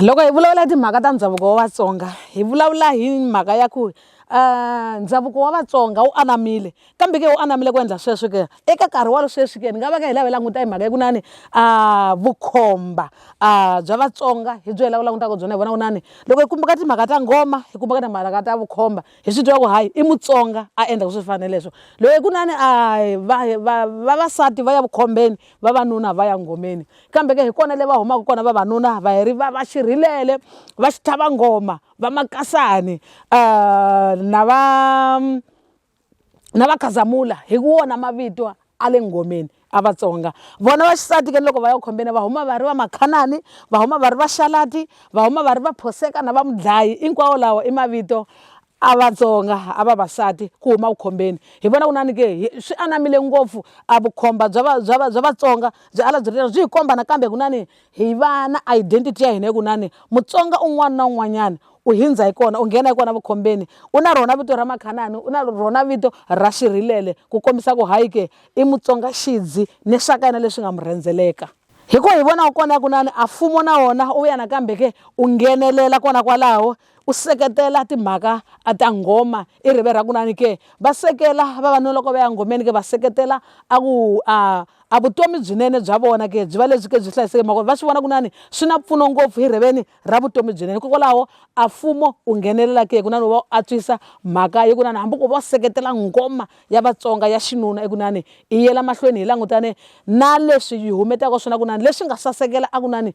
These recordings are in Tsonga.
loko hi vulavula hi timhaka ta ndhavuko wa vatsonga hi vulavula hi mhaka ya ku um ndhavuko wa vatsonga wu anamile kambe ke wu anamile ku endla sweswi ke eka nkarhi wa sweswi ke ni nga va ka hi lava hi languta hi mhaka ya ku nani um ah, vukhomba um ah, bya vatsonga hi byo hi lava langutaka byona hi vona ku nani loko hi kumbaka timhaka ta ngoma hi kumbaka timhaka ta vukhomba hi swi twa ku hayi i mutsonga a endla ku swi fana leswo loko hi ku nani a ah, vavasati va ya vukhombeni vavanuna va ya ngomeni kambe ke hi kona le va humaka kona vavanuna va heri va va xirhilele va xitlhava nghoma va makasani uh, na va na va khazamula hi wona mavito a le nghomeni a vatsonga vona va xisati ke loko va ya khombeni va huma va ri va makhanani va huma va ri va xalati va huma va ri va phoseka na va mudlayi hinkwawo lawa i mavito a Vatsonga a vavasati ku huma vukhombeni hi vona ku nani ke swi anamile ngopfu a vukhomba bya va bya va bya Vatsonga byi ala byi ri byi hi komba nakambe ku nani hi va na identity ya hina hi ku nani Mutsonga un'wana na un'wanyana u hindza hi kona u nghena hi kona vukhombeni u na rona vito ra Makhanani u na rona vito ra Xirhilele ku kombisa ku hayi ke i Mutsonga xidzi ni swa ka yena leswi nga mu rhendzeleka hi ko hi vona kona ya ku nani a mfumo na wona u vuya nakambe ke u nghenelela kona kwalaho U seketela timhaka a ta nghoma i rive ra kunani ke? Va sekela vavanuna loko va ya nghomeni ke? Va seketela a ku a a vutomi byinene bya vona ke byi va lebyi ke byi hlayiseke mhaka va swi vona kunani swi na mpfuno ngopfu hi riveni ra vutomi byinene hikokwalaho a mfumo u nghenelela ke kunani wu va u antswisa mhaka yi kunani hambi ku va u seketela nghoma ya Vatsonga ya xinuna i kunani i yela mahlweni hi langutane na leswi yi humetaka swona kunani leswi nga sasekela a kunani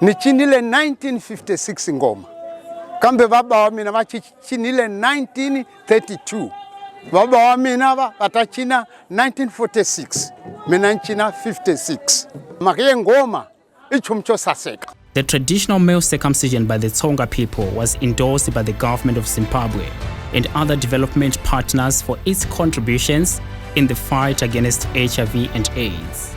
Ni cinile 1956 ngoma kambe baba wa mina va cinile 1932 baba wa mina va va ta cina 1946 mina ni cina 56 mhaka ye ngoma i nchumu xo saseka The traditional male circumcision by the Tsonga people was endorsed by the government of Zimbabwe and other development partners for its contributions in the fight against HIV and AIDS.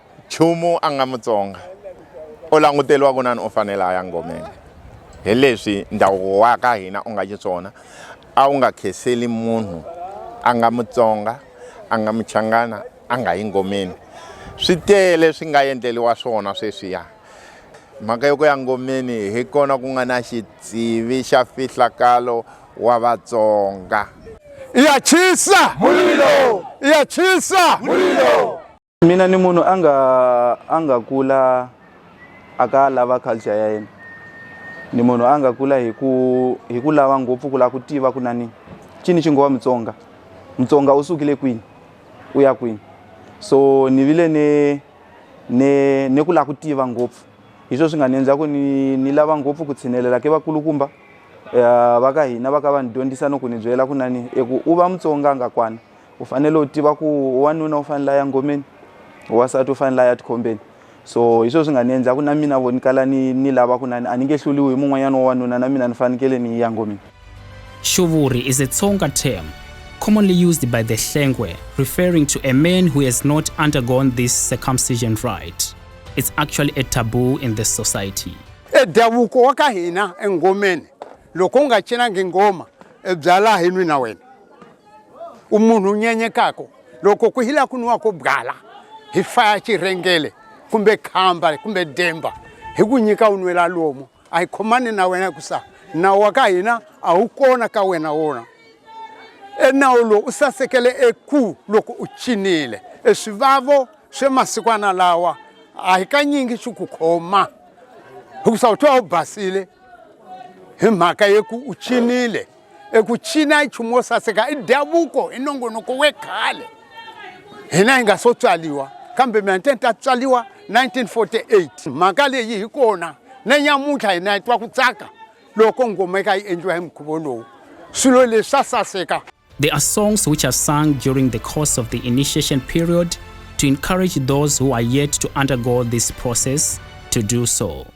Chumu a nga Mutsonga o languteriwa kunani u fanele a ya ngomeni hi leswi ndhavuko wa ka hina u nga xiswona a wu nga kheseli munhu a nga Mutsonga a nga Muchangana a nga yi ngomeni swi tele swi nga endleliwa swona sweswiya mhaka yo ku ya ngomeni hi kona ku nga na xitsivi xa fihlakalo wa Vatsonga. Iyachisa mulilo! Iyachisa mulilo! mina ni munhu a nga a nga kula a ka lava culture ya yena ni munhu a nga kula hi ku hi ku lava ngopfu ku lava ku tiva ku nani cini xi ngowa mutsonga mutsonga u sukile kwini u ya kwini so ni vile ni ni ni ku lava ku tiva ngopfu hi swo swi nga ni endla ku ni ni lava ngopfu ku tshinelela ke vakulukumba um va ka hina va ka va ni dyondzisa no ku ni byela ku nani i ku u va mutsonga nga kwana u fanele u tiva ku wanuna u fanele a ya ngomeni wasati u fanele a ya tikhombeni so hi sweswi nga ni endlaku na mina vo ni kala ni ni lava ku nani a ni nge hluliwi hi mun'wanyana wa wanuna na mina ni fanekele ni ya ngomeni Shuvuri is a Tsonga term commonly used by the Hlengwe referring to a man who has not undergone this circumcision rite. It's actually a taboo in this society. E davuko wa ka hina engomeni loko u nga cinangi ngoma e byala hi nwi na wena umunhu nyenyekako loko ku hila ku nwiwako byala hi fa ya cirengele kumbe khamba kumbe demba hi ku nyika u nwela lomu a hi khomani na wena ku sa nawu wa ka hina a wu kona ka wena wona enawu lowu u sasekele eku loko u cinile eswivavo swe masikwana lawa a hi kanyingi swi ku khoma hikusa u twa u basile hi mhaka yeku u cinile eku cina i nchumu wo saseka i ndhavuko i nongonoko we khale hina hi nga so tswaliwa kambe mina nte ni ta tswaliwa 1948 mhaka leyi hi kona na nyamuntlha hina hi twa ku tsaka loko ngoma eka yi endliwa hi mukhuvo lowu swilo leswi swa saseka There are songs which are sung during the course of the initiation period to encourage those who are yet to undergo this process to do so.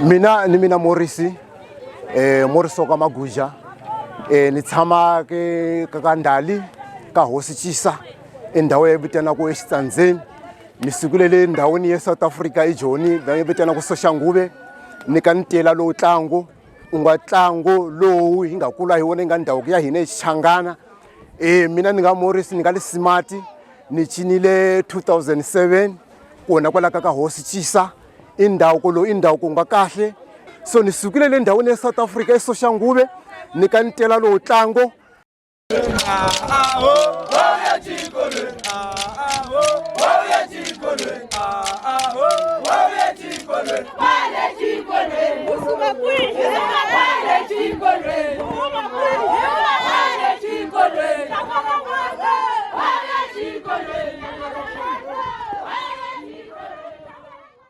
mina ni mina morisi um morisi wa ka maguja um ni tshama ke ka ka ndali ka hosi chisa endhawu ya vitanaka exitsandzeni ni sukulele endhawini ya south africa ejoni va vitanaka soxanguve ni ka ntila lowu tlangu u nga tlangu lowu hi nga kula hi wona yi nga ndhavuko ya hina exichangana um mina ni nga morisi ni nga le simati ni cinile 2007 kona kwalaka ka hosi chisa i ndhavuko lowu i ndhavuko wu nga kahle so ni sukile le ndhawini ya south africa esoxanguve ni ka ni tela lowu ntlango Thank you.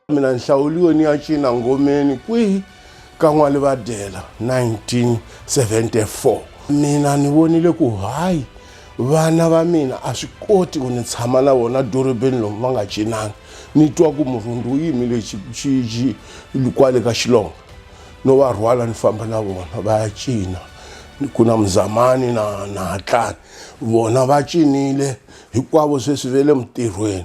mina ni hlawuliwe ni ya cina ngomeni kwihi ka n'walivadela 1974 mina ni vonile ku hayi vana va mina a swi koti ku ni tshama na vona dorobeni lomu va nga cinanga ni twa ku murhundu wu yimile kwale ka xilonga no va rhwala ni famba na vona va ya cina ku na muzamani na na hatlani vona va cinile hinkwavo sweswi ve le mutirhweni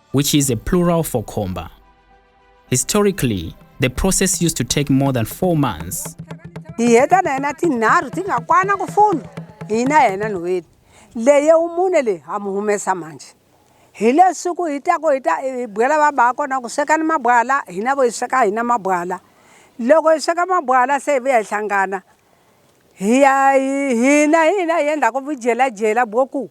which is a plural for khomba. Historically, the process used to take more than four months. hi le siku hi ta ku hi ta hi bwela va ba kona ku swekani mabwala hina vo hi sweka hina mabwala loko hi sweka mabwala se hi vuya hi hlangana hi ya hina hina hi endla ku vujelajela bwo ku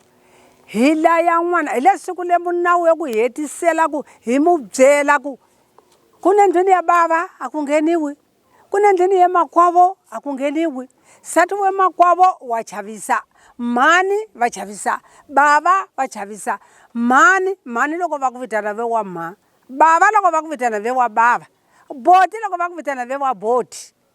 hi laya n'wana hi le siku le munawu yo ku hetisela ku hi mu byela ku ku ne ndlwini ya bava a ku ngheniwi ku ne ndlwini ye makwavo a ku ngheniwi sati we makwavo wa chavisa mhani va chavisa bava va chavisa mhani mhani loko va ku vitana ve wa mha bava loko va ku vitana ve wa bava boti loko va ku vitana ve wa boti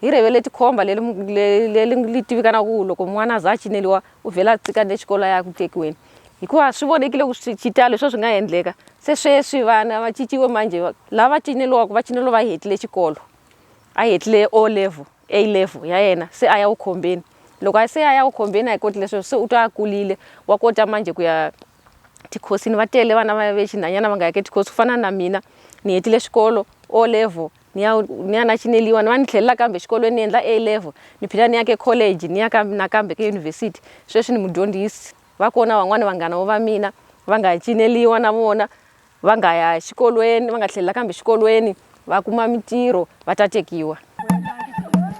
hi revele tikhomba leri tivikanaka ku loko n'wana za a cineriwa u vhela a cika ni xikolo ya ku tekiweni hikuva swi vonekile ku swi xitalo swo swi nga endleka se sweswi vana va ciciwe manje lava cineliwaka va cinelo va hetile xikolo a hetile o level a level ya yena se a ya wu khombeni loko a se a ya wu khombeni a hi koti leswi se u twa a kulile wa kota manje ku ya tikhosini va tele vana va ve xinhanyana va nga yeke tikhosi ku fana na mina ni hetile xikolo o level ni ya ni ya na chineliwa ni va ni tlhelela kambe xikolweni ni endla A level ni phila ni ya ke college ni ya ka nakambe ke yunivhesiti sweswi ni mudyondzisi va kona van'wani vanghana vo va mina va nga cineliwa na vona va nga ya xikolweni va nga tlhelela kambe xikolweni va kuma mintirho va ta tekiwa.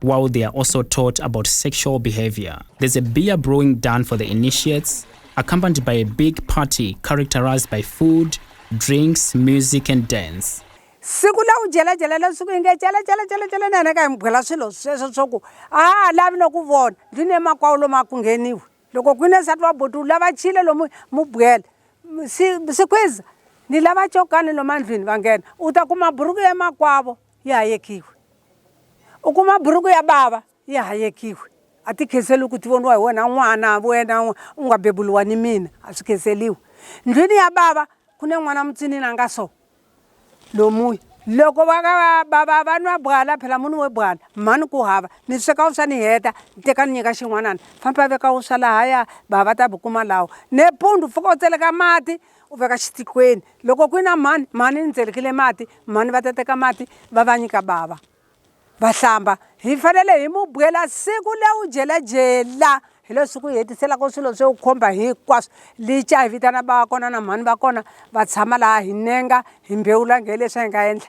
while they are also taught about sexual behavior. There's a beer brewing done for the initiates, accompanied by a big party characterized by food, drinks, music, and dance. siku la u jelajela la siku inge jelajelajelajela na yena ka hi mi byela swilo sweswo swa ku a a lavi no ku vona ndzi ne makwawu lomu a ku ngheniwi loko ku ne nsati wa boti u lava chile lomu mu byela sikhwiza ni lava cokani lomu andlwini va nghena u ta kuma buruku emakwavo yi hayekiwe. U kuma buruku ya bava yi hayekiwe, a ti khenseriwi ku ti voniwa hi wena n'wana, wena u nga beburiwa ni mina, a swi khenseriwi. Ndlwini ya bava ku ne n'wana mutsinini a nga so, lomuya. Loko va ka va bava va nwa bwala phela mu nwiwe bwala, mhani ku hava ni sweka wuswa ni heta ni teka ni nyika xin'wanana, famba veka wuswa lahaya bava va ta bukuma lawa. Nepundzu pfuka u tseleka mati u veka xitikweni loko ku na mhani mhani ni tselekile mati mhani va ta teka mati va va nyika bava va hlamba hi fanele hi mu byela siku le u jelajela hi leswi ku hetiselaka swilo swo khomba hinkwaswo lica hi vitana va kona na mhani va kona va tshama laha hi nenga hi mbhewula nge leswi hi nga endla